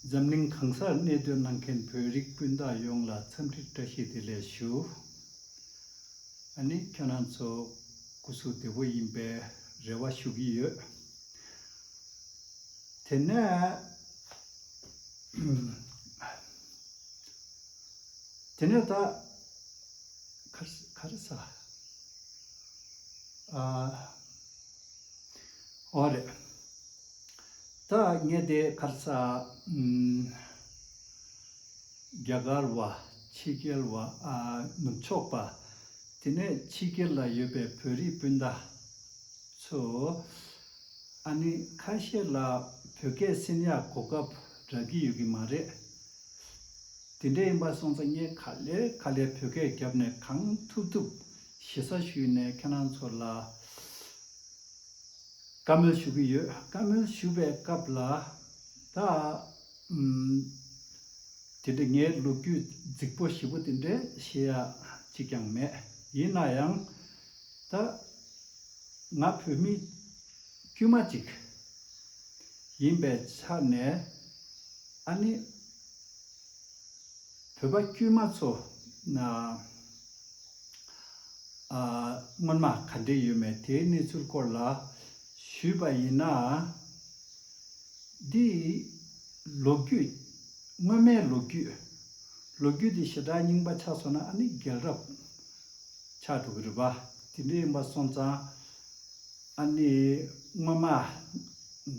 འཛམ་གླིང་གང་སར་གནས་སྡོད་གནང་མཁན་བོད་རིགས་སྤུན་ཟླ་ཡོངས་ལ་འཚམས་འདྲི་བཀྲ་ཤིས་བདེ་ལེགས་ཞུ། ཨ་ནི་ཁྱོད་རང་ཚོ་སྐུ་གཟུགས་བདེ་བོ་ཡིན་པའི་རེ་བ་ཞུ་གི་ཡོད། དེ་ནས། དེ་ནས་ད། ག་རེ་ཟ། ཨོ་རེད། ད་ངས་དེ་གར་ས། རྒྱ་གར་བ། ཕྱི་རྒྱལ་བ། ནུབ་ཕྱོགས་པ། དེ་ནས་ཕྱི་རྒྱལ་ལ་ཡོད་པའི་བོད་རིགས་སྤུན་ཟླ། ཚོ། ཨ་ནི་ཁ་ཤས་ལ་བོད་སྐད་སེམས་ཡག་གོ་སྐབས་རག་གི་ཡོད་ཀྱི་མ་རེད། དེ་འདྲ་ཡིན་པ་སོང་ཙང་ངས་ག་ལེར་ག་ལེར་བོད་སྐད་རྒྱབ་ནས་གང་ཐུབ་ཐུབ་ཞེ་ས་ཞུས་ནས་ཁྱེད་རང་ཚོ་ལ་བཀའ་མོལ་ཞུ་གི་ཡོད་བཀའ་མོལ་ཞུ་བའི་སྐབས་ལ་ད་དེ་འདྲའི་ངའི་ལོ་རྒྱུས་རྫིག་པོ་ཞིབ་པོ་དེ་འདྲའི་བཤད་ཡ་གཅིག་ཀྱང་མེད་ཡིན་ན་ཡང་ད་ང་བོད་མི་དཀྱུས་མ་གཅིག་ཡིན་པའི་ཆ་ནས་ཨ་ནི་བོད་པ་དཀྱུས་མ་ཚོ། སྔོན་མ་ག་འདྲེ་ཡོད་མེད་དེའི་གནས་ཚུལ་སྐོར་ལ་ཞུས་པ་ཡིན་ན། འདི་ལོ་རྒྱུས། སྔོན་མའི་ལོ་རྒྱུས། ལོ་རྒྱུས་དེ་ཞེ་དྲག་རྙིང་པ་ཆགས་སོང་ན་ཨ་ནི་རྒྱལ་རབས་ཆགས་འགྲོ་གི་རེད་པ། དེ་འདྲའི་ཡིན་པ་སོང་ཙང། ཨ་ནི་སྔོན་མ་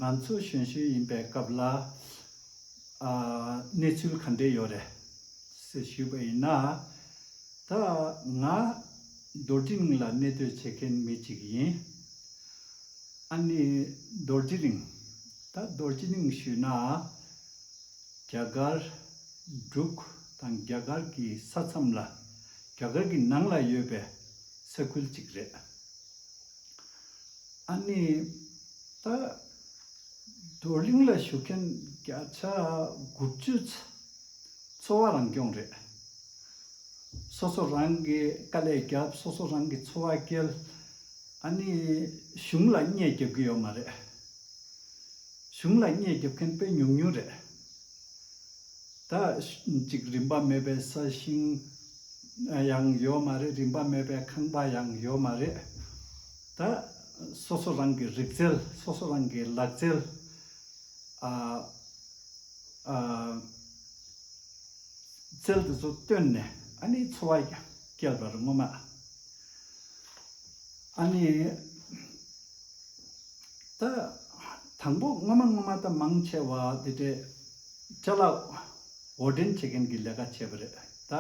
ང་ཚོ་གཞོན་ཤོས་ཡིན་པའི་སྐབས་ལ། གནས་ཚུལ་ག་འདྲས་ཡོད་རེད། ཟེར་ཞུས་པ་ཡིན་ན། ད་ང་རྡོ་རྗེ་གླིང་ལ་གནས་སྡོད་བྱེད་མཁན་མི་ཅིག་ཡིན། ཨ་ནི་རྡོ་རྗེ་གླིང། ད་རྡོ་རྗེ་གླིང་ཞུས་ན། རྒྱ་གར། འབྲུག་དང་རྒྱ་གར་གྱི་ས་མཚམས་ལ། རྒྱ་གར་གྱི་ནང་ལ་ཡོད་པའི་ས་ཁུལ་ཅིག་རེད། ཨ་ནི། ད་བགྲོ་གླེང་ལ་ཞུགས་མཁན་བརྒྱ་ཆ་དགུ་བཅུ་ཚོ་འཚོ་བ་རང་སྐྱོང་རེད། སོ་སོ་རང་གིས་དཀའ་ལས་བརྒྱབ་སོ་སོ་རང་གིས་འཚོ་བ་སྐྱེལ། ཨ་ནི་གཞུང་ལ་བརྙས་བརྒྱབ་གི་ཡོད་མ་རེད། གཞུང་ལ་བརྙས་བརྒྱབ་མཁན་དཔེ་ཉུང་ཉུང་རེད། ད་ཅིག་རིན་པ་མེད་པའི་ས་ཞིང་ཡང་ཡོད་མ་རེད་རིན་པ་མེད་པའི་ཁང་པ་ཡང་ཡོད་མ་རེད། ད། སོ་སོ་རང་གི་རིག་རྩལ་སོ་སོ་རང་གི་ལག་རྩལ། རྩལ་དེ་ཚོ་བཏོན་ནས་ཨཱ་ནི་འཚོ་བ་ཀྱང་བསྐྱལ་བར་ངོ་མ། ཨཱ་ནི། ད། དང་པོ་སྔོན་མ་སྔོན་མ་ད་མང་ཆེ་བ་དེ་འདྲའི་བཅའ་ལག་འོར་འདྲེན་བྱེད་མཁན་གྱི་ལས་ཀ་བྱས་པ་རེད། ད།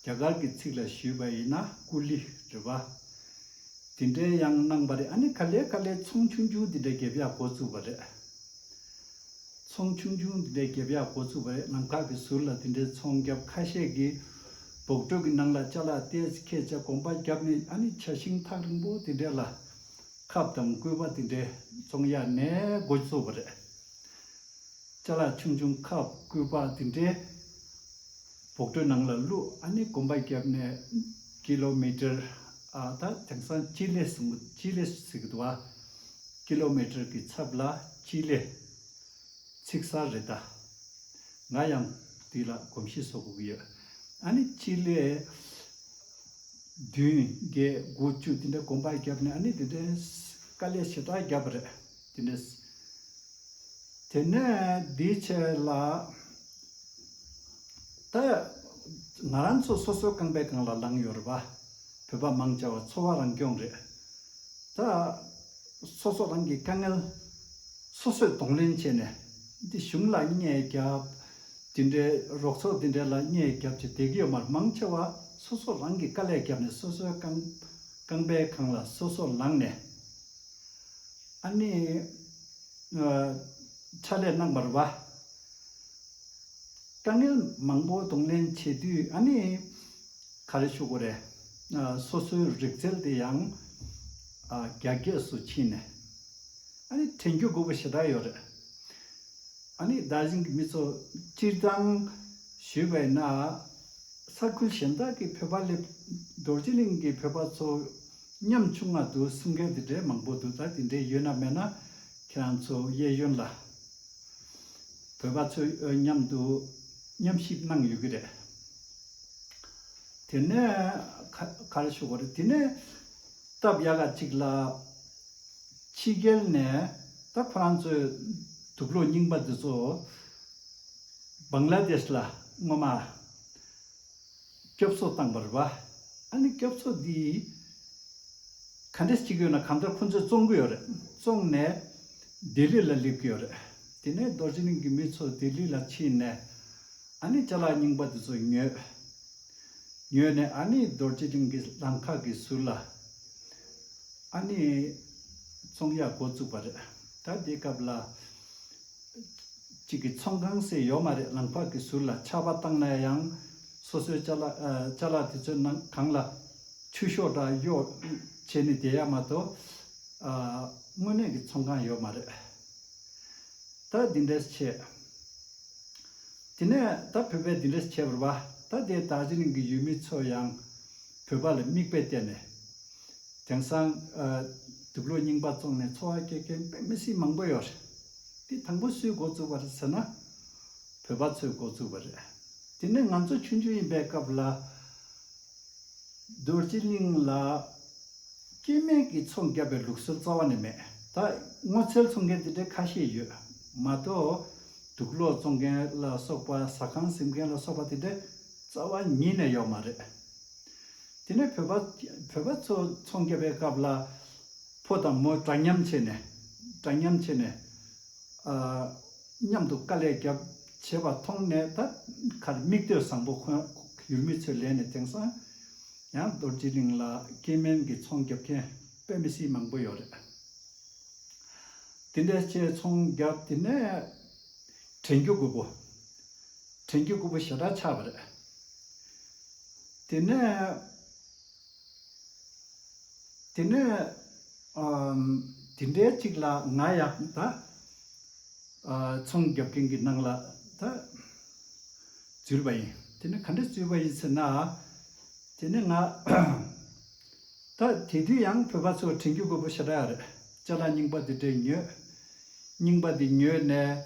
རྒྱ་གར་གྱི་ཚིག་ལ་ཞུས་པ་ཡིན་ན་ཀུ་ལི་རི་བ། དེ་འདྲའི་ཡང་གནང་བ་རེད་ཨ་ནི་ག་ལེ་ག་ལེ་ཚོང་ཆུང་ཆུང་དེ་འདྲའི་འགེབས་ཡག་འགོ་བཙུགས་པ་རེད། ཚོང་ཆུང་ཆུང་དེ་འདྲའི་འགེབས་ཡག་འགོ་བཙུགས་པ་རེད་ནམ་མཁའ་གི་ཟུར་ལ་དེ་འདྲའི་ཚོང་རྒྱབ་ཁ་ཤས་ཀྱི་བོགས་གྲོས་ཀྱི་ནང་ལ་བཅའ་ལག་ཏེ་ཁས་བཅའ་གོམ་པ་བརྒྱབ་ནས་ཨ་ནི་བྱ་ཤིང་ཐག་རིང་པོ་དེ་འདྲའི་ལ་ཁབ་དང་སྐུད་པ་དེ་འདྲའི་ཚོང་ཡག་ནས་འགོ་བཙུགས་པ་རེད། བཅའ་ལག་ཆུང་ཆུང་ཁབ་སྐུད་པ་དེ་འདྲའི། བོགས་གྲོས་ནང་ལ་ཀླུ་ཨ་ནེ་དགོན་པ་བརྒྱབ་ནས Kilometer། ད་དེང་སང་སྤྱི་ལེ་གསུམ་གྱི་སྤྱི་ལེ་ཟེར་གི་འདུག་ཨ། Kilometer། གྱི་ཚབ་ལ་སྤྱི་ལེ། ཚིག་གསར་རེད་ད། ང་ཡང་འདི་ལ་གོམས་གཤིས་བཟོ་དགོས་ཀྱི་ཡོད། ཨ་ནི་སྤྱི་ལེ། བདུན་བརྒྱད་དགུ་བཅུ་དེ་འདྲའི་དགོན་པ་བརྒྱབ་ནས་ཨ་ནི་དེ་འདྲའི་དཀའ་ལས་ཞེ་དྲག་བརྒྱབ་པ་རེད། དེ་ནས་དེ་ནས་འདིའི་ཆེད་ལ། ད་ང་རང་ཚོ་སོ་སོའི་རྐང་པའི་སྒང་ལ་ལངས་ཡོད་རེད་པ། བོད་པ་མང་ཆེ་བ་འཚོ་བ་རང་སྐྱོང་རེད། ད་སོ་སོ་རང་གི་དཀའ་ངལ་སོ་སོས་གདོང་ལེན་བྱས་ནས་འདི་གཞུང་ལ་བརྙས་བརྒྱབ། དེ་འདྲའི་རོགས་ཚོགས་དེ་འདྲའི་ལ་བརྙས་བརྒྱབ་ཅེས་བསྡད་ཀྱི་ཡོད་མ་རེད་མང་ཆེ་བ་སོ་སོ་རང་གི་དཀའ་ལས་བརྒྱབ་ནས་སོ་སོའི་རྐང་པའི་སྒང་ལ་སོ་སོ་ལངས་ནས། ཨ་ནི། ཕྱག་ལས་གནང་བར་བ། དཀའ་ངལ་མང་པོ་གདོང་ལེན་བྱེད་དུས་ཨ་ནི། ག་རེ་ཞུ་གོ་རེ། སོ་སོའི་རིག་རྩལ་དེ་ཡང། རྒྱ་སྐད་སུ་ཕྱིན་ནས། ཨ་ནི་དྲན་རྒྱུ་དགོས་པོ་ཞེ་དྲག་ཡོད་རེད། ཨ་ནི་བདག་གཞན་གྱི་མི་ཚོ་སྤྱིར་བཏང། ཞུས་པ་ཡིན་ན། ས་ཁུལ་གཞན་དག་གི་བོད་པ་སླེབས། རྡོ་རྗེ་གླིང་གི་བོད་པ་ཚོ། ཉམ་ཆུང་ང་འདུག་གསུང་མཁན་དེ་འདྲའི་མང་པོ་འདུག་ད་དེ་འདྲའི་ཡོད་ན་མེད་ན་ཁྱེད་རང་ཚོ་གཡས་གཡོན་ལ་བོད་པ་ཚོས་ཨོས་མཉམ་དུ་མཉམ་ཞིབ་གནང་ཡོད་གི་རེད། དེ་ནས་ག་རེ་ཞུ་དགོས་རེད་དེ་ནས་སྟབས་ཡག་ག་ཅིག་ལ་ཕྱི་རྒྱལ་ནས་ད་ཁོ་རང་ཚོས་དུག་ལོག་རྙིང་པ་འདི་ཚོ Bangladesh ལ་སྔོན་མ་སྐྱོབ་གསོ་བཏང་བར་རྦ་ཨ་ནི་སྐྱོབ་གསོ་འདི་ག་འདྲས་ཅིག་ཡོད་ན་གམ་མཐར་ཁོང་ཚོས་བཙོང་གི་ཡོད་རེད་བཙོང་ནས་ལྡི་ལི་ལ་སླེབས་ཀྱི་ཡོད་རེད་དེ་ནས་རྡོ་རྗེ་གླིང་གི་མི་ཚོ་ལྡི་ལི་ལ་ཕྱིན་ནས་ཨ་ནི་བྱ་གླག་རྙིང་པ་དེ་ཚོ་ཉོས། ཉོས་ནས་ཨ་ནི་རྡོ་རྗེ་གླིང་གི་ལམ་ཁ་གི་ཟུར་ལ་ཨ་ནི་བཙོང་ཡག་འགོ་བཙུགས་པ་རེད་ད་དེའི་སྐབས་ལ་གཅིག་གི་ཚོང་ཁང་ཟེར་ཡོད་མ་རེད་ལམ་ཕག་གི་ཟུར་ལ་ཆར་པ་བཏང་ན་ཡང་སོ་སོའི་བཅའ་ལག་དེ་ཚོའི་ནང་གང་ལ་ཆུ་ཤོག་འདྲ་གཡོག་བྱས་ནས་བསྡད་ཡ་མ་གཏོགས། དངོས་གནས་ཀྱི་ཚོང་ཁང་ཡོད་མ་རེད། ད་འདི་འདྲས་བྱས། དེ་ནས་ད་བོད་པས་འདི་འདྲས་བྱས་པར་བ་ད་དེ་དག་ཟི་ལིང་གི་ཡུལ་མི་ཚོ་ཡང་བོད་པ་ལ་མིག་དཔེ་བལྟས་ནས། དེང་སང། དུག་ལོ་རྙིང་པ་བཙོངས་ནས་འཚོ་བ་སྐྱེལ་མཁན་དཔེ་མི་སྲིད་མང་པོ་ཡོད་རེད། དེ་དང་པོ་སུས་འགོ་བཙུགས་པ་རེད་ཟེར་ན། བོད་པ་ཚོས་འགོ་བཙུགས་པ་རེད། དེ་ནས་ང་ཚོ་ཆུང་ཆུང་ཡིན་པའི་སྐབས་ལ། རྡོ་རྗེ་གླིང་ལ། སྐྱེས་སྨན་གྱི་ཚོང་བརྒྱབ་པའི་ལུགས་སྲོལ་རྩ་བ་ནས་མེད། ད་སྔོ་ཚལ་འཚོང་མཁན་དེ་འདྲའི་ཁ་ཤས་ཡོད། མ་གཏོགས། དུག་ལོ་བཙོང་མཁན་ལ་སོགས་པ་ཟ་ཁང་གཟིམ་མཁན་ལ་སོགས་པ་དེ་འདྲའི་རྩ་བ་ཉིད་ནས་ཡོད་མ་རེད། དེ་ནས་བོད་པ་ཚོ་ཚོང་རྒྱབ་པའི་སྐབས་ལ། ཕོ་དང་མོ་འདྲ་མཉམ་བྱས་ནས། འདྲ་མཉམ་བྱས་ནས། མཉམ་དུ་དཀའ་ལས་རྒྱབ་བྱེད་པ་མཐོང་ནས་ད་གར་མིག་ལྟོས་བཟང་པོ་འཁོན། ཡུལ་མི་ཚོས་ལན་ནས་དེང་སང། ཡང་རྡོ་རྗེ་གླིང་ལ་སྐྱེས་དམན་གྱི་ཚོང་རྒྱབ་མཁན་དཔེ་མི་སྲིད་མང་པོ་ཡོད་རེད། དེ་འདྲ་བྱས་ཚོང་རྒྱབ་དེ་ནས་བྲན་གྱི་རྐུབ་བུ། བྲན་གྱི་རྐུབ་བུ་ཞེ་དྲག་ཆགས་པ་རེད། དེ་ནས། དེ་ནས། དེ་འདྲའི་ཅིག་ལ་ང་ཡང་ད། ཚོང་རྒྱག་མཁན་གྱི་ནང་ལ་ད། འཛུལ་བ་ཡིན། དེ་ནས་ག་འདྲ་འཛུལ་བ་ཡིན་ཟེར་ན། དེ་ནས་ང། ད་དེ་དུས་ཡང་བོད་པ་ཚོ་དྲན་རྒྱུ་དགོས་པོ་ཞེ་དྲག་རེད་ལྕེ་ལ་སྙིང་པ་དེ་འདྲས་ཉོས། སྙིང་པ་དེ་ཉོས་ནས་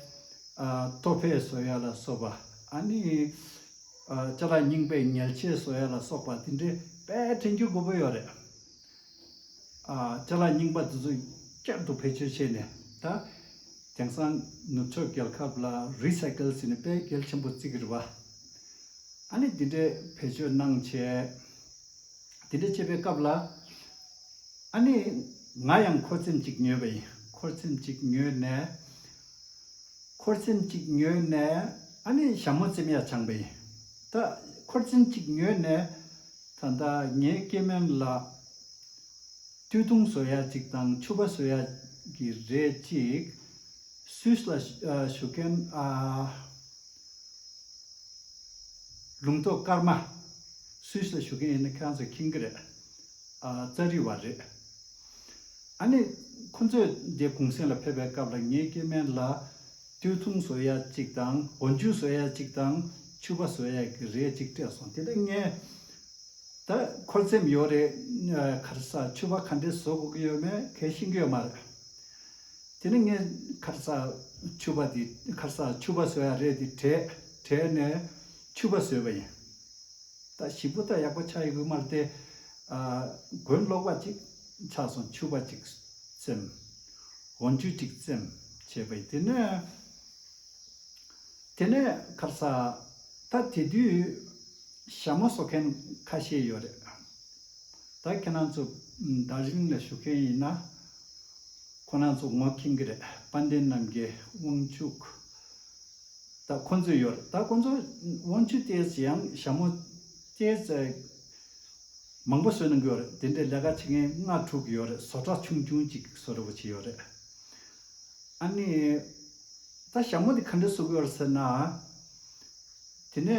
ལྟོ་ཕད་བཟོ་ཡ་ལ་སོགས་པ་ཨ་ནི་ལྕེ་ལ་སྙིང་པས་ཉལ་ཆས་བཟོ་ཡ་ལ་སོགས་པ་དེ་འདྲས་དཔེ་དྲན་རྒྱུ་དགོས་པོ་ཡོད་རེད། ལྕེ་ལ་སྙིང་པ་དེ་ཚོ་བསྐྱར་དུ་བེད་སྤྱོད་བྱས་ནས་ད་དེང་སང་ནུབ་ཕྱོགས་རྒྱལ་ཁབ་ལ Recycle ཟེར་ནས་དཔེ་གལ་ཆེན་པོ་བརྩི་གི་རེད་པ། ཨ་ནི་དེ་འདྲས་བེད་སྤྱོད་གནང་བྱས། དེ་འདྲ་བྱེད་པའི་སྐབས་ལ། ཨ་ནི། ང་ཡང་འཁོར་ཚེམས་གཅིག་ཉོས་པ་ཡིན། འཁོར་ཚེམས་གཅིག་ཉོས་ནས། འཁོར་ཚེམས་གཅིག་ཉོས་ནས། ཨ་ནི་ཞྭ་མོ་ཚེམས་ཡ་ཆང་པ་ཡིན། ད། འཁོར་ཚེམས་གཅིག་ཉོས་ནས། ད་ལྟ་ངའི་སྐྱེས་དམན་ལ། སྐྱོ་གདུང་བཟོ་ཡ་ཅིག་དང་ཕྱུ་པ་བཟོ་ཡ། གི་རེད་ཅིག། སུས་ལ། ཞུ་མཁན། ལུང་རྟོགས་སྐར་མ། Swiss ལ་བཞུགས་མཁན་ཡིན་ན་ཁྱེད་རང་ཚོས་ཁྱིམ་གྱི་རེད། རྩ་རིག་བ་རེད། ཨ་ནི་ཁོ་ཚོས་འདི་གུང་སེང་ལ་ཕེབས་པའི་སྐབས་ལ་ངའི་སྐྱེས་དམན་ལ། ཏུའུ་ཚུང་བཟོ་ཡ་གཅིག་དང་སྒོ་མཇུག་བཟོ་ཡ་གཅིག་དང་ཕྱུ་པ་བཟོ་ཡ་གི་རེ་གཅིག་སྤྲད་སོང་དེ་ལ་ངས། ད་ཁོར་སེམས་ཡོད་རེད། ཁར་ས་ཕྱུ་པ་ག་འདྲས་བཟོ་དགོས་ཀྱི་ཡོད་མེད་གལ་ཤིན་གྱི་ཡོད་མ་རེད། དེ་ནས་ངས་ཁར་ས་ཕྱུ་པ་དེ་ཁར་ས་ཕྱུ་པ་ཟོས་ཡ་རེད་དེ་དྲས། དྲས་ནས་ཕྱུ་པ་ཟོས་པ་ཡིན། ད་ཞིག་པོ་ད་ཡག་པོ་ཆགས་ཡོད་གི་མ་རེད་དེ། གོན་ལོག་པ་ཅིག་ཆགས་སོང་ཕྱུ་པ་ཅིག་བཙེམ། འོ་འཇུ་ཅིག་བཙེམ་བྱས་པ་ཡིན་དེ་ནས། དེ་ནས་ཁར་ས། ད་དེ་དུས། ཞྭ་མོ་ཟོ་མཁན་ཁ་ཤས་ཡོད་རེད། ད་ཁྱེད་རང་ཚོ་དར་ཞིང་ལ་ཞུགས་མཁན་ཡིན་ན། ཁོ་རང་ཚོ་ངོ་ཁེངས་ཀྱི་རེད་དཔལ་ལྡན་རྣམ་རྒྱལ་དབང་ཕྱུག་ད་ཁོང་ཚོ་ཡོད་རེད་ད་ཁོང་ཚོ་དབང་ཕྱུག་ལྟས་ཡང་ཞྭ་མོ་ལྟས་མང་པོ་བཟོས་གནང་གི་ཡོད་རེད་དེ་འདྲའི་ལས་ཀ་བྱེད་མཁན་ལྔ་དྲུག་གི་ཡོད་རེད་བཟོ་གྲྭ་ཆུང་ཆུང་གཅིག་བཟོ་རེ་བ་བྱས་ཡོད་རེད། ཨ་ནི། ད་ཞྭ་མོ་དེ་ག་འདྲ་བཟོ་གི་ཡོད་རེད་ཟེར་ན། དེ་ནས་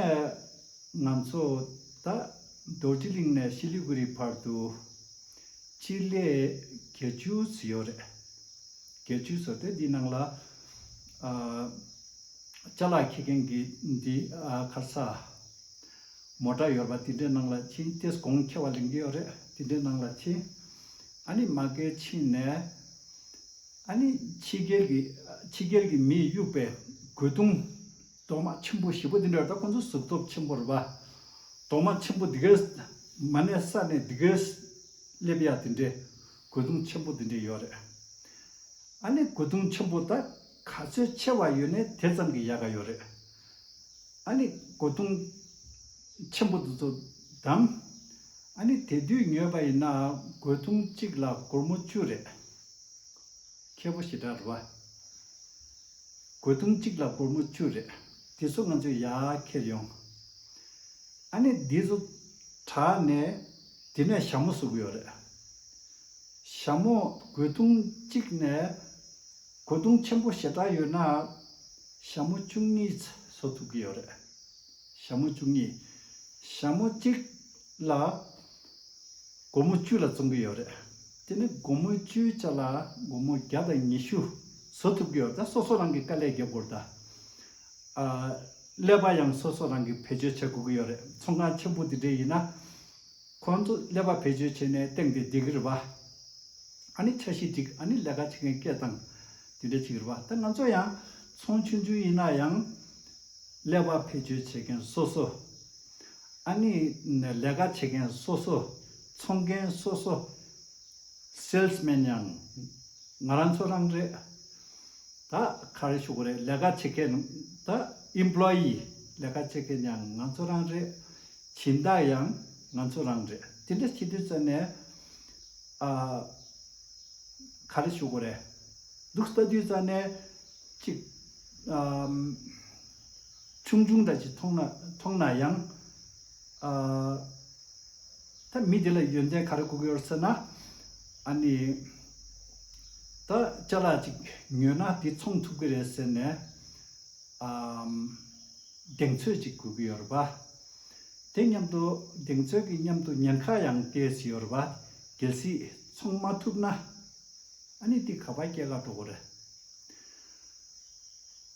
ང་ཚོ་ད་རྡོ་རྗེ་གླིང་ནས་ཤི་ལི་གུ་རི་བར་དུ་སྤྱིར་ལས་བརྒྱད་ཅུ་ཟི་ཡོད་རེད། བརྒྱད་ཅུ་ཟོ་སྟེ་འདིའི་ནང་ལ། ལྕ་ལག་འཁྱེར་མཁན་གྱི་འདི་ཁར་ས། མོ་འདྲ་ཡོད་པ་དེ་འདྲའི་ནང་ལ་ཕྱིན་རྟེས་གོང་ཁྱེར་བ་ལེན་གྱི་ཡོད་རེད་དེ་འདྲའི་ནང་ལ་ཕྱིན། ཨ་ནི་མ་གལ་ཕྱིན་ནས། ཨ་ནི་ཕྱི་རྒྱལ་གྱི་ཕྱི་རྒྱལ་གྱི་མིས་གཡུག་པའི་རྒོལ་རྡུང། གདོང་དམར་ཆེན་པོ་བཞི་པོ་འདི་འདྲ་ད་ཁོང་ཚོ་གཟུགས་སྟོབས་ཆེན་པོ་རེད་པ། གདོང་དམར་ཆེན་པོ་འདི་གས། མ་གནས་ས་ནས་འདི་གས། སླེབས་ཡག་དེ་འདྲའི། རྒོལ་རྡུང་ཆེན་པོ་དེ་འདྲའི་ཡོད་རེད། ཨ་ནི་རྒོལ་རྡུང་ཆེན་པོ་ད་ག་ཚོད་ཆེ་བ་ཡོད་ནས་དེ་ཙམ་གྱི་ཡག་ག་ཡོད་རེད། ཨ་ནི་རྒོལ་རྡུང། ཆེན་པོ་འདི་ཚོ་བདམས། ཨ་ནི་དེ་དུས་ཉོས་པ་ཡིན་ན་རྒོལ་རྡུང་གཅིག་ལ་སྒོར་མོ་བཅུ་རེད། ཁྱེད་པོ་ཞེ་དྲག་རེད་བ། གོས་ཐུང་གཅིག་ལ་སྒོར་མོ་བཅུ་རེད། དེ་ཚོ་ང་ཚོས་ཡར་འཁྱེར་ཡོང། ཨ་ནེ་འདི་ཚོ་དྲག་ནས་དེ་ནས་ཞྭ་མོ་བཟོ་གི་ཡོད་རེད། ཞྭ་མོ་གོས་ཐུང་གཅིག་ནས་གོས་ཐུང་ཆེན་པོ་ཞེ་དྲག་ཡོད་ན། ཞྭ་མོ་བཅུ་གཉིས་བཟོ་ཐུབ་ཀྱི་ཡོད་རེད། ཞྭ་མོ་བཅུ་གཉིས། ཞྭ་མོ་གཅིག་ལ། སྒོར་མོ་བཅུ་ལ་བཙོང་གི་ཡོད་རེད། དེ་ནི་སྒོར་མོ་བཅུའི་ཆ་ལ་སྒོར་མོ་བརྒྱ་དང་ཉི་ཤུ་བཟོ་ཐུབ་ཀྱི་ཡོད་ད་སོ་སོ་རང་གི་དཀའ་ལས་རྒྱབ་དགོས་རེད་ད། ཀླད་པ་ཡང་སོ་སོ་རང་གིས་བེད་སྤྱོད་བྱེད་དགོས་ཀྱི་ཡོད་རེད་ཚོང་ཁང་ཆེན་པོ་འདི་འདྲའི་ཡིན་ན། ཁོང་ཚོ་ཀླད་པ་བེད་སྤྱོད་བྱས་ནས་སྟེང་དེ་འགྲིག་གི་རེད་པ། ཨ་ནི་འཆར་གཞི་འགྲིག་ཨ་ནི་ལས་ཀ་བྱེད་མཁན་སྐད་གདངས་དེ་འདྲ་བྱེད་ཀྱི་རེད་པ་ད་ང་ཚོ་ཡང་ཚོང་ཆུང་ཆུང་ཡིན་ན་ཡང་ཀླད་པ་བེད་སྤྱོད་བྱེད་མཁན་སོ་སོ་ཨ་ནི། ལས་ཀ་བྱེད་མཁན་སོ་སོ། འཚོང་མཁན་སོ་སོ། Salesman། ཡང་ང་རང་ཚོ་རང་རེད། ད་ག་རེ་ཞུ་གི་རེད། ལས་ཀ་བྱེད་མཁན་ད Employee། ལས་ཀ་བྱེད་མཁན་ཡང་ང་ཚོ་རང་རེད། བྱིན་བདག་ཡང་ང་ཚོ་རང་རེད། དེ་འདྲ་བྱེད་དུས་ཚོད་ནས། ཨ། ག་རེ་ཞུ་གི་རེད། འདུག་ལྟ་དུས་ཚོད་ནས། གཅིག། ཆུང་ཆུང་འདྲ་ཞིག་མཐོང་ན་མཐོང་ན་ཡང། ད་མི་དེ་ལ་ཡོན་ཏན་ག་རེ་བསྐུར་གི་ཡོད་ཟེར་ན། ཨ་ནི། ད་ལྕགས་ལ་ཅིག་ཉོས་ན་དེ་འཚོང་ཐུབ་ཀྱི་རེད་ཟེར་ནས། གདེང་ཚོད་ཅིག་དགོས་ཀྱི་ཡོད་རེད་པ། དེ་མཉམ་དུ་གདེང་ཚོད་ཀྱི་མཉམ་དུ་ཉེན་ཁ་ཡང་བསྐྱལ་བྱས་ཡོད་རེད་པ། གལ་སྲིད་འཚོང་མ་ཐུབ་ན། ཨ་ནི་དེ་ག་པར་སྐྱེལ་ག་འགྲོ་གི་རེད།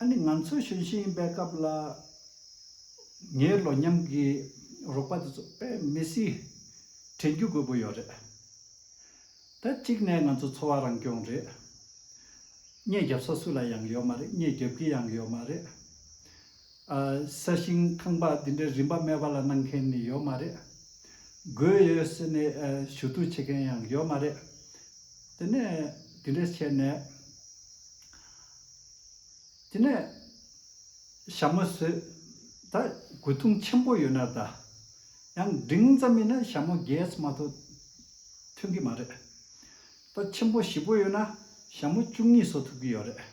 ཨ་ནི་ང་ཚོ་གཞོན་ཤིང་ཡིན་པའི་སྐབས་ལ། ངའི་ལོ་མཉམ་གྱི་རོགས་པ་དེ་ཚོ་དཔེ་མི་སྲིད། དྲན་རྒྱུ་དགོས་པོ་ཡོད་རེད། ད་གཅིག་ནས་ང་ཚོ་འཚོ་བ་རང་སྐྱོང་རེད། རྙེད་རྒྱབ་ས་སུ་ལ་ཡང་ཡོད་མ་རེད་རྙེད་རྒྱབ་གི་ཡང་ཡོད་མ་རེད། ས་ཞིང་ཁང་པ་འདི་འདྲའི་རིམ་པ་དམའ་བ་ལ་གནང་མཁན་ནི་ཡོད་མ་རེད། དགོས་ཡོད་ཟེར་ནས་ཞུ་གཏུག་བྱེད་མཁན་ཡང་ཡོད་མ་རེད། དེ་ནས་དེ་འདྲས་བྱས་ནས། དེ་ནས་ཞྭ་མོ་ཟོས། ད་དགོས་ཐུང་ཆེན་པོ་ཡོད་ན་ད། ཡང་འབྲིང་ཙམ་ཡིན་ན་ཞྭ་མོ་གེས་མ་ཐོ་ཐོན་གི་མ་རེད། ད་ཆེན་པོ་བཞི་པོ་ཡོད་ན་ཞྭ་མོ་བཅུ་གཉིས་ཟོ་ཐུབ་ཀྱི་ཡོད་རེད།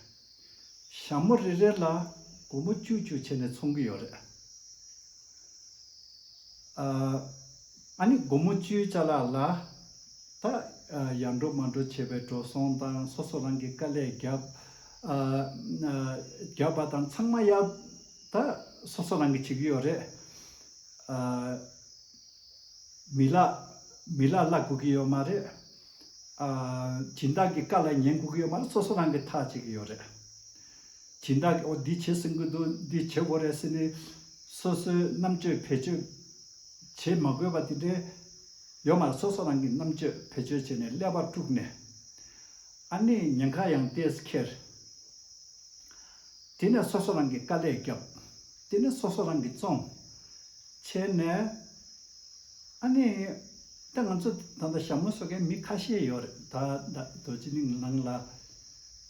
ཞྭ་མོ་རེ་རེ་ལ་སྒོར་མོ་བཅུ་བཅུ་བྱས་ནས་འཚོང་གི་ཡོད་རེད། ཨ་ནི་སྒོར་མོ་བཅུའི་བཅའ་ལག་ལ། ད་ཡར་འགྲོ་མར་འགྲོ་བྱས་པའི་འགྲོ་སོང་དང་སོ་སོ་རང་གི་དཀའ་ལས་བརྒྱབ། བརྒྱབ་པ་དང་ཚང་མ་ཡར་ད་སོ་སོ་རང་གིས་བྱེད་ཀྱི་ཡོད་རེད། མི་ལ་མི་ལ་བླ་དགོས་ཀྱི་ཡོད་མ་རེད། སྦྱིན་བདག་གི་བཀའ་ལ་ཉན་དགོས་ཀྱི་ཡོད་མ་རེད་སོ་སོ་རང་གིས་ཐག་བཅད་ཀྱི་ཡོད་རེད། སྦྱིན་བདག་གིས་འོ་འདི་བྱེད་ཟིན་གྱི་འདུག་འདི་བྱེད་དགོས་རེད་ཟེར་ནས། སོ་སོའི་རྣམ་དཔྱོད་བེད་སྤྱོད་བྱེད་མ་དགོས་པ་དེ་འདྲའི་ཡོད་མ་རེད་སོ་སོ་རང་གིས་རྣམ་དཔྱོད་བེད་སྤྱོད་བྱས་ནས་ཀླད་པ་དཀྲུགས་ནས། ཨ་ནི་ཉེན་ཁ་ཡང་དེས་འཁྱེར། དེ་ནས་སོ་སོ་རང་གིས་དཀའ་ལས་བརྒྱབ། དེ་ནི་སོ་སོ་རང་གིས་བཙོང་བྱས་ནས། ཨ་ནི། དེ་ང་ཚོ་ད་ལྟ་ཞྭ་མོ་གསོ་མཁན་མི་ཁ་ཤས་ཡོད་རེད་ད། རྡོ་རྗེ་གླིང་ནང་ལ་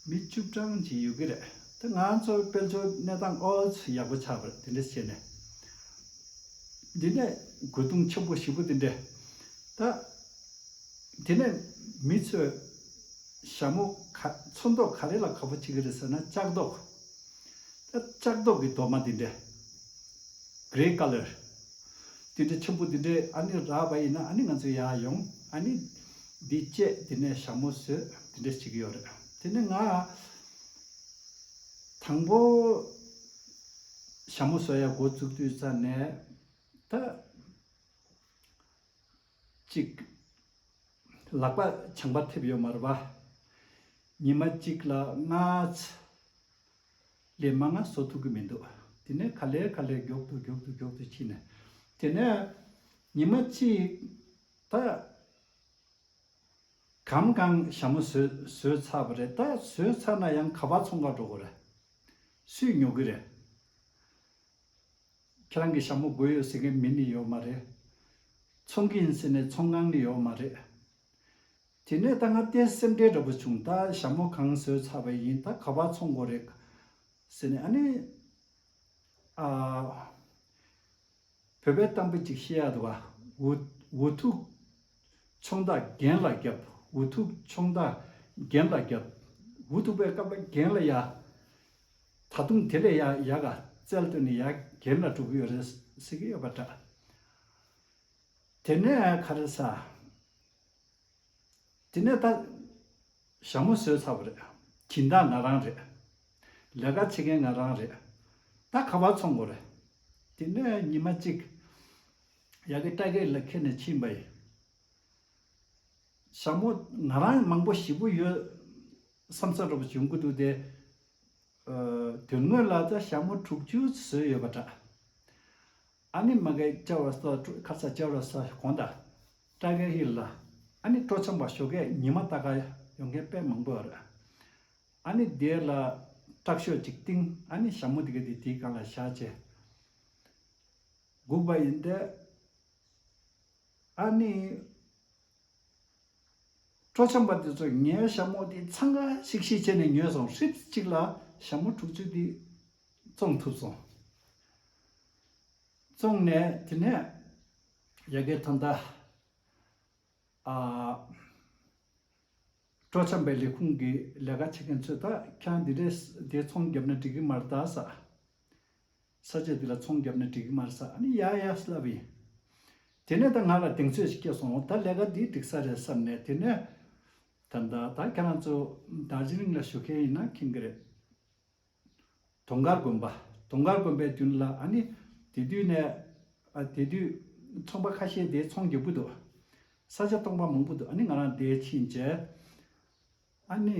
མི་བཅུ་གྲངས་ཅིག་ཡོད་ཀྱི་རེད། དེ་ང་ཚོ་དཔལ་འབྱོར་གནས་སྟངས་ཨོལ་ཡག་པོ་ཆགས་པ་རེད་དེ་འདྲ་བྱས་ནས། དེ་ནས་རྒོལ་རྡུང་ཆེན་པོ་བཞི་པོ་དེ་འདྲས་ད། དེ་ནས་མི་ཚོས་ཞྭ་མོ་ག་ཚོན་མདོག་ག་རེ་ལ་ག་པོ་བྱེད་ཀྱི་རེད་ཟེར་ན་ལྕགས་མདོག། ལྕགས་མདོག་གི་གདོང་མ་དེ་འདྲ། Grey colour། དེ་འདྲ་ཆེན་པོ་དེ་འདྲས་ཨ་ནེ་རག་པ་ཡིན་ན་ཨ་ནེ་ང་ཚོའི་ཡར་ཡོང་ཨ་ནེ། འདི་བཅད་དེ་ནས་ཞྭ་མོ་ཟོས་དེ་འདྲས་བྱེད་ཀྱི་ཡོད་རེད། དེ་ནས་ང། དང་པོ། ཞྭ་མོ་ཟོས་ཡར་འགོ་བཙུགས་དུས་ཙར་ནས། ད། གཅིག། ལག་པ་བྱང་པ་ཐེབས་ཡོད་མ་རེད་པ། ཉི་མ་གཅིག་ལ་སྔ་ཕྱི་ལས་མ་སྔ་བཟོ་ཐུབ་ཀྱི་མི་འདུག་དེ་ནས་ག་ལེར་ག་ལེར་མགྱོགས་དུ་མགྱོགས་དུ་མགྱོགས་དུ་ཕྱིན་ནས། དེ་ནས་ཉི་མ་གཅིག་ད། གམ་གང་ཞྭ་མོ་ཟོས་ཚར་བ་རེད་ད་ཟོས་ཚར་ན་ཡང་ག་བ་ཚོང་ཁར་འགྲོ་དགོས་རེད། སུས་ཉོ་གི་རེད། ཁྱེད་རང་གི་ཞྭ་མོ་དགོས་ཡོད་ཟེར་མཁན་མི་ནི་ཡོད་མ་རེད། ཚོང་གི་ཡིན་ཟེར་ནས་ཚོང་ཁང་ནི་ཡོད་མ་རེད། དེ་ནས་ད་ང་བལྟས་ན་སེམས་ཁྲལ་འདྲ་པོ་བྱུང་ད་ཞྭ་མོ་གང་བཟོས་ཚར་བ་ཡིན་ད་ག་བར་ཚོང་དགོས་རེད། ཟེར་ནས་ཨ་ནི། ཨ། བོད་པའི་གཏམ་དཔེ་གཅིག་བཤད་ཡག་འདུག་ཨ། འུ་ཐུག། ཚོང་བདག་རྒན་ལ་རྒྱབ་འུ་ཐུག་ཚོང་བདག་རྒན་ལ་རྒྱབ་འུ་ཐུག་པས་སྐབས་ལ་རྒན་ལ་ཡ། ད་དུང་དེ་ལས་ཡང་ཡག་ག་བཙལ་དོན་ནི་ཡར་རྒན་ལ་དྲུག་ཡོད་རེད་ཟེར་གྱི་ཡོད་པ་འདྲ། དེ་ནས་ཁ་རེ་ས། དེ་ནས་ད། ཞྭ་མོ་ཟོས་ཚར་བ་རེད། གྱིན་བདག་ང་རང་རེད། ལས་ཀ་བྱེད་མཁན་ང་རང་རེད། ད་ཁ་བ་ཚོང་དགོས་རེད། དེ་ནས་ཉི་མ་གཅིག། ཡར་གི་སྐྲ་སྒེག་ལ་ཁད་ནས་ཕྱིན་པ་ཡིན། ཞྭ་མོ་ང་རང་མང་པོ་བཞི་པོ་ཡོད། བསམ་ཚོད་སྐྲག་པ་བྱུང་གི་འདུག་སྟེ། དོན་དངོས་ལ་ད་ཞྭ་མོ་དྲུག་ཅུ་བཟོས་ཡོད་པ་འདྲ། ཨ་ནི་མ་གའི་ལྕགས་རོ་སོགས་སྤྲོ་ཁ་ཚ་ལྕགས་རོ་སོགས་གོང་ད། སྤྲ་གའི་ཧི་ལ། ཨ་ནི་སྤྲོ་འཆམ་པ་ཞོ་གའི་ཉི་མ་ལྟ་ག་ཡོང་མཁན་དཔེ་མང་པོ་རེད། ཨ་ནི་དེ་ལ་སྐྲག་ཞོ་ཅིག་བཏིང་ཨ་ནི་ཞྭ་མོ་དེ་ག་དེ་དེའི་གང་ལ་བཞག་ཅེས་སྒུག་པ་ཡིན་ཏེ། ཨ་ནི། སྤྲོ་འཆམ་པ་དེ་ཚོ་ངའི་ཞྭ་མོ་དེ་འཚང་ཁ་ཤིག་ཤིག་བྱས་ནས་ཉོས་སོང་ཧྲིལ་གཅིག་ལ་ཞྭ་མོ་དྲུག་ཅུ་དེ་བཙོང་ཐུབ་སོང། བཙོང་ནས་དེ་ནས་ཡ་གི་ད་ལྟ་སྤྲོ་འཆམ་པའི་ལས་ཁུངས་ཀྱི་ལས་ཀ་བྱེད་མཁན་ཚོས་ད་ཁྱང་དེ་འདྲས་དེ་ཚོང་བརྒྱབ་ན་འགྲིག་གི་མ་རེད་ད་ཟ། ས་ཆ་འདི་ལ་ཚོང་བརྒྱབ་ནས་འགྲིག་གི་མ་རེད་ས་ནི་ཡ་ཡ་ལབ་པ་ཡིན། དེ་ནས་ད་ང་ལ་གདེང་ཚོད་ཅིག་སྐྱེས་སོང་ད་ལས་ཀ་འདི་འགྲིག་ས་རེད་བསམ་ནས་དེ་ནས། ད་ད་ད་ཁྱེད་རང་ཚོ་རྡ་རྗེ་གླིང་ལ་བཞུགས་མཁན་ཡིན་ན་མཁྱེན་གི་རེད། དུང་དཀར་དགོན་པ་དུང་དཀར་དགོན་པའི་རྒྱུན་ལ་ཨ་ནི་དེ་དུས་ནས། དེ་དུས་ཚོང་པ་ཁ་ཤས་དེ་ཚོང་རྒྱག་གི་འདུག་ས་ཆ་སྟོང་པ་མང་པོ་འདུག་ཨ་ནི་ང་རང་དེ་ཕྱིན་རྗེས། ཨ་ནི།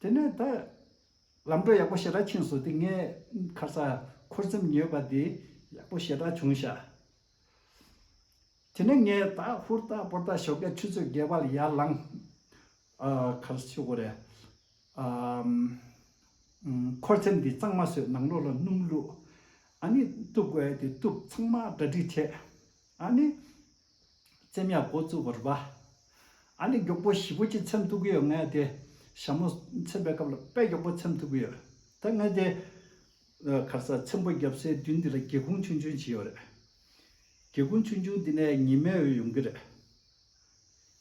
དེ་ནས་ད། ལམ་འགྲོ་ཡག་པོ་ཞེ་དྲག་ཁྱིམ་སོ་ཏི་ངའི། ཁ་ཚ། འཁོར་ཚེམས་ཉོས་པ་དེ། ཡག་པོ་ཞེ་དྲག་བྱུང་ཤག། དེ་ནས་ངས་ད་ཧུར་ལྟ་སྤོར་ལྟ་ཞོག་ཀའི་ཆུ་ཚོད་བརྒྱད་པ་ལ་ཡར་ལངས། ཨ། ཁ་ཚ་ཆུ་འགོ་རེད། ཨ། འཁོར་ཚེམས་དེ་གཙང་མ་བཟོས་ནང་ལོགས་ལ་སྣུམ་བླུགས། ཨ་ནི། གཏུབ་དགོས་དེ་གཏུབ་ཚང་མ་གྲ་སྒྲིག་བྱས། ཨ་ནི། བཙན་གཡག་མགོ་བཙུགས་པར་སྦ། ཨ་ནི་མགྱོགས་པོ་བཞི་པོ་གཅིག་འཚེམ་ཐུབ་ཀྱི་ཡོད་ངས་དེ་ཞྭ་མོ་འཚེམ་པའི་སྐབས་ལ་དཔེ་མགྱོགས་པོ་འཚེམ་ཐུབ་ཀྱི་ཡོད་ད་ངས་དེ། ཁར་སར་འཚེམ་པོ་བརྒྱབ་སའི་མདུན་འདི་ལ་སྒེའུ་ཁུང་ཆུང་ཆུང་བྱས་ཡོད་རེད། སྒེའུ་ཁུང་ཆུང་ཆུང་འདི་ནས་ཉི་མའི་འོད་ཡོང་གི་རེད།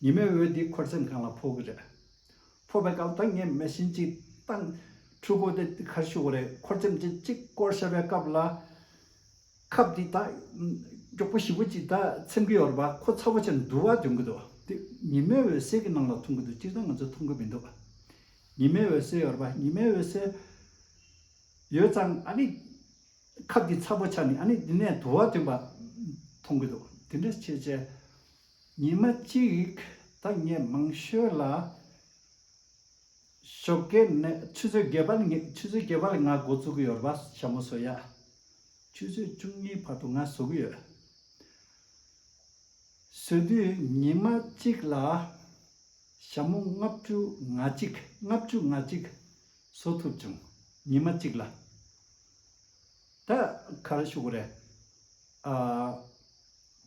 ཉི་མའི་འོད་དེ་ཁོར་འཚེམ་ཁང་ལ་ཕོག་གི་རེད། ཕོག་པའི་སྐབས་ད་ངས་མེ་ཤིང་གཅིག་བཏང། འཕྲུལ་འཁོར་དེ་ཁར་བཞུགས་པ་རེད་ཁོར་འཚེམ་དེ་གཅིག་བསྐོར་བྱས་པའི་སྐབས་ལ། ཁབ་འདི་དག་མགྱོགས་པོ་ཞིབ་པོ་ཅིག་དག་འཚེམ་གྱི་ཡོད་རེད་པ་ཁོ་ཚ་བོ་ཆེར་འདུག་བ་འཇོན་གྱི་འདུག་དེ་ཉི་མའི་འོད་གསལ་གྱི་ནང་ལ་མཐོང་གྱི་འདུག་སྤྱིར་བཏང་ང་ཚོས་མཐོང་གི་མི་འདུག་ཉི་མའི་འོད་གསལ་ཡོད་རེད་པ་ཉི་མའི་འོད་གསལ་ཡོད་ཙང་ཨ་ནི་ཁབ་འདི་ཚ་བོ་ཆགས་ནས་ཨ་ནི་འདི་ནས་དུ་བ་འཐོན་པ་མཐོང་གྱི་འདུག་དེ་འདྲ་བྱས་བྱས་ཉི་མ་གཅིག་དང་ངས་མང་ཤོས་ལ། ཞོགས་དགེ་ནི་ཆུ་ཚོད་བརྒྱད་པ་ལ་ངས་ཆུ་ཚོད་བརྒྱད་པ་ལ་ང་འགོ་བཙུགས་ཀྱི་ཡོད་རེད་པ་ཞྭ་མོ་བཟོ་ཡ། ཆུ་ཚོད་བཅུ་གཉིས་བར་དུ་ང་བཟོ་གི་ཡོད། བཟོས་དུས་ཉི་མ་གཅིག་ལ་ཞྭ་མོ་ལྔ་བཅུ་ང་གཅིག་ལྔ་བཅུ་ང་གཅིག་བཟོ་ཐུབ་བྱུང་ཉི་མ་གཅིག་ལ། ད་ག་རེ་ཞུ་གི་རེད། ཨ།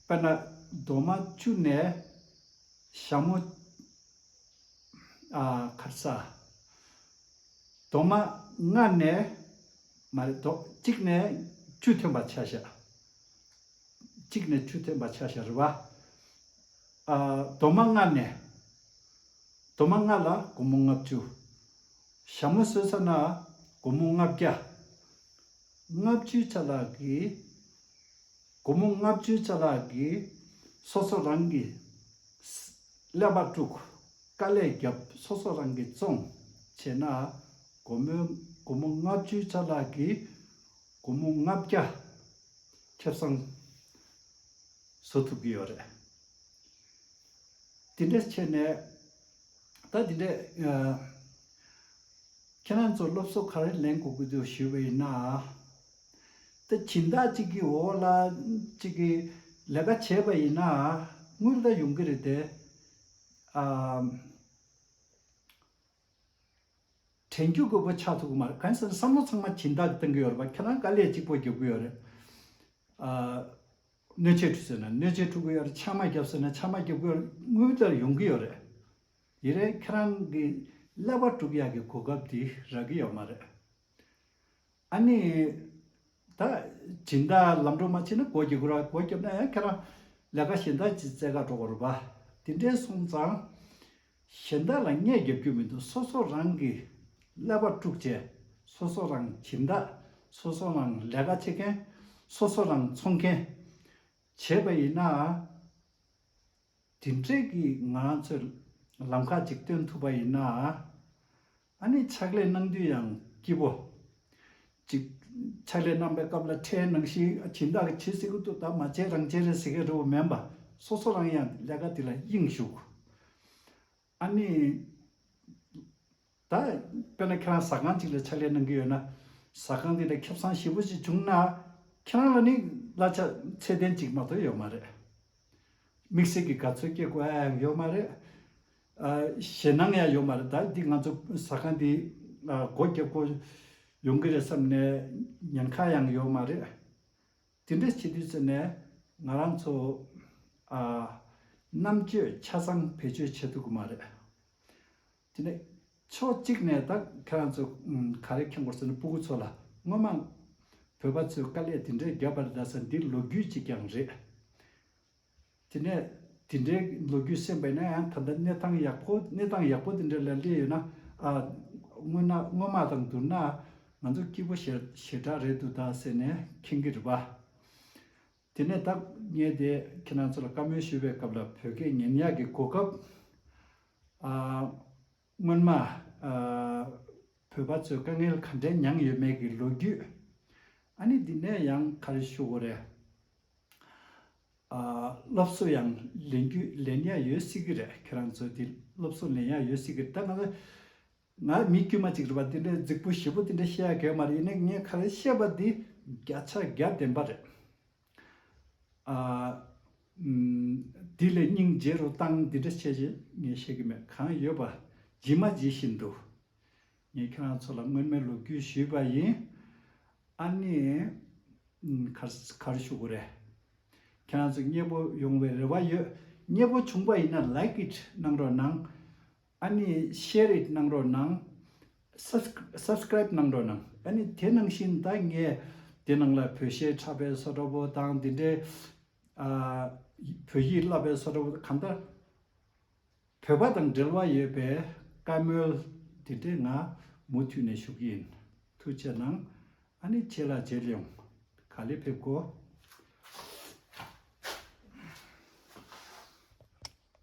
དཔེར་ན་རྡོ་མ་བཅུ་ནས་ཞྭ་མོ། ཁར་ས། དོ་མ་སྔར་ནས། མ་རེད་དོ། གཅིག་ནས་ཆུ་ཐོན་པ་ཆ་ཤ། གཅིག་ནས་ཆུ་ཐོན་པ་ཆ་ཤ་རེད་བ། དོ་མ་སྔར་ནས། དོ་མ་སྔར་ལ་དགུང་མོ་ལྔ་བཅུ། ཞྭ་མོ་གསོད་ས་ན་དགུང་མོ་ལྔ་བརྒྱ། ལྔ་བཅུའི་ཆ་ལག་གིས། སྒོར་མོ་ལྔ་བཅུའི་ཆ་ལག་གིས་སོ་སོ་རང་གི། ཀླད་པ་དཀྲུག། དཀའ་ལས་བརྒྱབ་སོ་སོ་རང་གི་བཙོང། བྱས་ན། སྒོར་མོའི་སྒོར་མོ་ལྔ་བཅུའི་ཆ་ལག་གིས། སྒོར་མོ་ལྔ་བརྒྱ། ཁེབས་བཟང། བཟོ་ཐུབ་ཀྱི་ཡོད་རེད། དེ་འདྲའི་ཆེད་ནས། ད་དེ་འདྲའི། ཁྱེད་རང་ཚོ་སློབ་གསོ་ག་རེ་ལེན་དགོས་ཀྱི་འདུག་ཞུས་པ་ཡིན་ན། ད་ཁྱིམ་བདག་གཅིག་གིས་འོ་ལ་གཅིག་གིས་ལས་ཀ་བྱས་པ་ཡིན་ན་དངུལ་ད་ཡོང་གི་རེད་དེ། དྲན་རྒྱུ་དགོས་པོ་ཆགས་ཐུབ་གི་མ་རེད་གང་ཟེར་ན་བསམ་བློ་ཚང་མ་ཁྱིམ་བདག་གིས་གཏོང་གི་ཡོད་རེད་པ་ཁྱེད་རང་དཀའ་ལས་གཅིག་པོ་རྒྱབ་གི་ཡོད་རེད། སྣོད་ཆས་འཁྲུ་ཟེར་ན་སྣོད་ཆས་འཁྲུ་གི་ཡོད་རེད་ཆང་མ་བརྒྱབ་ཟེར་ན་ཆང་མ་བརྒྱབ་གི་ཡོད་རེད་དངུལ་ད་ཡོང་གི་ཡོད་རེད། ཡིན་རེད་ཁྱེད་རང་གིས་ཀླད་པ་དཀྲུག་ཡག་གི་གོ་སྐབས་དེ་རག་གི་ཡོད་མ་རེད། ཨ་ནི། ད། སྦྱིན་བདག་ལམ་འགྲོ་མ་མཆིས་ན་སྒོ་འགྱིག་གུ་ར་སྒོ་བརྒྱབ་ན་ཡང་ཁྱེད་རང། ལས་ཀ་གཞན་དག་ཅིག་བཙལ་ག་འགྲོ་ག་རུ་བ། དེ་འདྲའི་སོང་ཙང། གཞན་དག་ལ་བརྙས་བརྒྱབ་རྒྱུ་མི་འདུག་སོ་སོ་རང་གིས། ཀླད་པ་དཀྲུགས་བྱས། སོ་སོ་རང་སྦྱིན་བདག། སོ་སོ་རང་ལས་ཀ་བྱེད་མཁན། སོ་སོ་རང་འཚོང་མཁན། བྱས་པ་ཡིན་ན། དེ་འཕྲལ་གྱི་ང་རང་ཚོས། ལམ་ཁ་ཅིག་སྟོན་ཐུབ་པ་ཡིན་ན། ཨ་ནི་ཕྱག་ལས་གནང་དུས་ཡང་སྐྱིད་པོ། ཅིག། ཕྱག་ལས་གནང་པའི་སྐབས་ལ་ཁྲལ་གནང་གཞི་ཇི་འདྲ་གི་བྱེད་སྲིད་ཀི་འདུག་ད་མ་བྱས་རང་བྱས་རེད་ཟེར་གི་རེད་འོ་མེན་པ་སོ་སོ་རང་ཡང་ལས་ཀ་དེ་ལ་གཡེང་བཞུགས། ཨ་ནི། ད། དཔེར་ན་ཁྱེད་རང་ཟ་ཁང་ཅིག་ལ་ཕྱག་ལས་གནང་གི་ཡོད་ན། ཟ་ཁང་དེ་ལ་ཁེབས་གསང་ཞིབ་པོ་ཞིག་བྱུང་ན། ཁྱེད་རང་ལ་ནི་གླ་ཆ་ཚད་ལྡན་ཅིག་མ་གཏོགས་ཡོད་མ་རེད། དམིགས་བསལ་གྱི་དགའ་ཚོད་སྐྱེ་དགོས་ཨ་ཡང་ཡོད་མ་རེད། ཞེད་སྣང་ཡང་ཡོད་མ་རེད་ད་འདི་ང་ཚོ་ཟ་ཁང་འདི་སྒོ་རྒྱབ་དགོ་ཡོང་གི་རེད་བསམ་ནས་ཉེན་ཁ་ཡང་ཡོད་མ་རེད། དེ་འདྲ་བྱེད་དུས་ཟེར་ནས་ང་རང་ཚོ་རྣམ་དཔྱོད་ཆ་ཚང་བེད་སྤྱོད་བྱེད་ཐུབ་གི་མ་རེད། དེ་ནས་ཕྱོགས་གཅིག་ནས་ད་ཁྱེད་རང་ཚོ་ག་རེ་ཁྱེར་དགོ་ཟེར་ནས་སྤུ་གུ་ཚོ་ལ་སྔོན་མ་བོད་པ་ཚོས་དཀའ་ལས་དེ་འདྲའི་བརྒྱབ་པ་རེད་ད་ཟེར་འདི་ལོ་རྒྱུས་ཅིག་ཀྱང་རེད། དེ་ནས་དེ་འདྲའི་ལོ་རྒྱུས་གསན་པས་ན་ཡང་ད་ལྟ་གནས་སྟངས་ཡག་པོ་གནས་སྟངས་ཡག་པོ་དེ་འདྲ་ལ་སླེབས་ཡོད་ན། སྔོན་ན་སྔོན་མ་དང་བསྡུར་ན་ང་ཚོ་སྐྱིད་པོ་ཞེ་ཞེ་དྲག་རེད་འདུག་ད་ཟེར་ནས་ཁེངས་ཀི་རེད་པ། དེ་ནས་ད་ངས་དེ་ཁྱེད་རང་ཚོ་ལ་བཀའ་མོལ་ཞུས་པའི་སྐབས་ལ་བོད་སྐད་ཉན་ཡག་གི་གོ་སྐབས། སྔོན་མ་བོད་པ་ཚོས་དཀའ་ངལ་ག་འདྲའི་མྱངས་ཡོད་མེད་ཀྱི་ལོ་རྒྱུས། ཨ་ནི་འདི་ནས་ཡང་ག་རེ་ཞུ་དགོས་རེད། སློབ་གསོ་ཡང་ལེན་རྒྱུ་ལེན་ཡ་ཡོད་སྲིད་གི་རེད་ཁྱེད་རང་ཚོས་དེ་སློབ་གསོ་ལེན་ཡ་ཡོད་སྲིད་གི་རེད་ད་ང་ང་མི་དཀྱུས་མ་ཅིག་རེད་པ་དེ་འདྲའི་རྫིག་པོ་ཞེ་པོ་དེ་འདྲ་བཤད་ཡ་གལ་མ་རེད་ཡིན་ནའི་ངས་ཁ་རེ་བཤད་པ་དེ་བརྒྱ་ཆ་བརྒྱ་བདེན་པ་རེད། དེ་ལས་སྙིང་རྗེ་རུ་བཏང་འདི་འདྲ་བྱས་ཞེས་ངས་བཤད་གི་མེད་གང་ཡོད་པ་ཇི་མ་ཇི་བཞིན་དུ་ངས་ཁྱེད་རང་ཚོ་ལ་སྔོན་མའི་ལོ་རྒྱུས་ཞུས་པ་ཡིན། ཨཱ་ནི། གར་ཞུ་གི་རེད། ཁྱེད་རང་ཚོ་མཉེས་པོ་ཡོང་བའི་རེ་བ་ཡོད། མཉེས་པོ་བྱུང་པ་ཡིན་ན Like it གནང་རོགས་གནང། ཨཱ་ནི Share it གནང་རོགས་གནང། Subscribe གནང་རོགས་གནང། ཨཱ་ནི་དེ་ནང་བཞིན་ད་ངས་དེ་ནང་ལ་བོད་གཞས་འཁྲབ་པའི་སོ་འཁྲབ་པོ་དང་དེ་འདྲའི། བོད་ཡིག་བསླབ་པའི་སོ་འཁྲབ་པོ་གང་ལྟར། བོད་པ་དང་འབྲེལ་བ་ཡོད་པའི་བཀའ་མོལ་དེ་འདྲས་ང་མུ་མཐུད་ནས་ཞུ་གི་ཡིན། ཐུགས་ཆེ་གནང། ཨ་ནི་ཁྱེད་ལ་མཇལ་ཡོང། ག་ལེར་ཕེབས་གོ།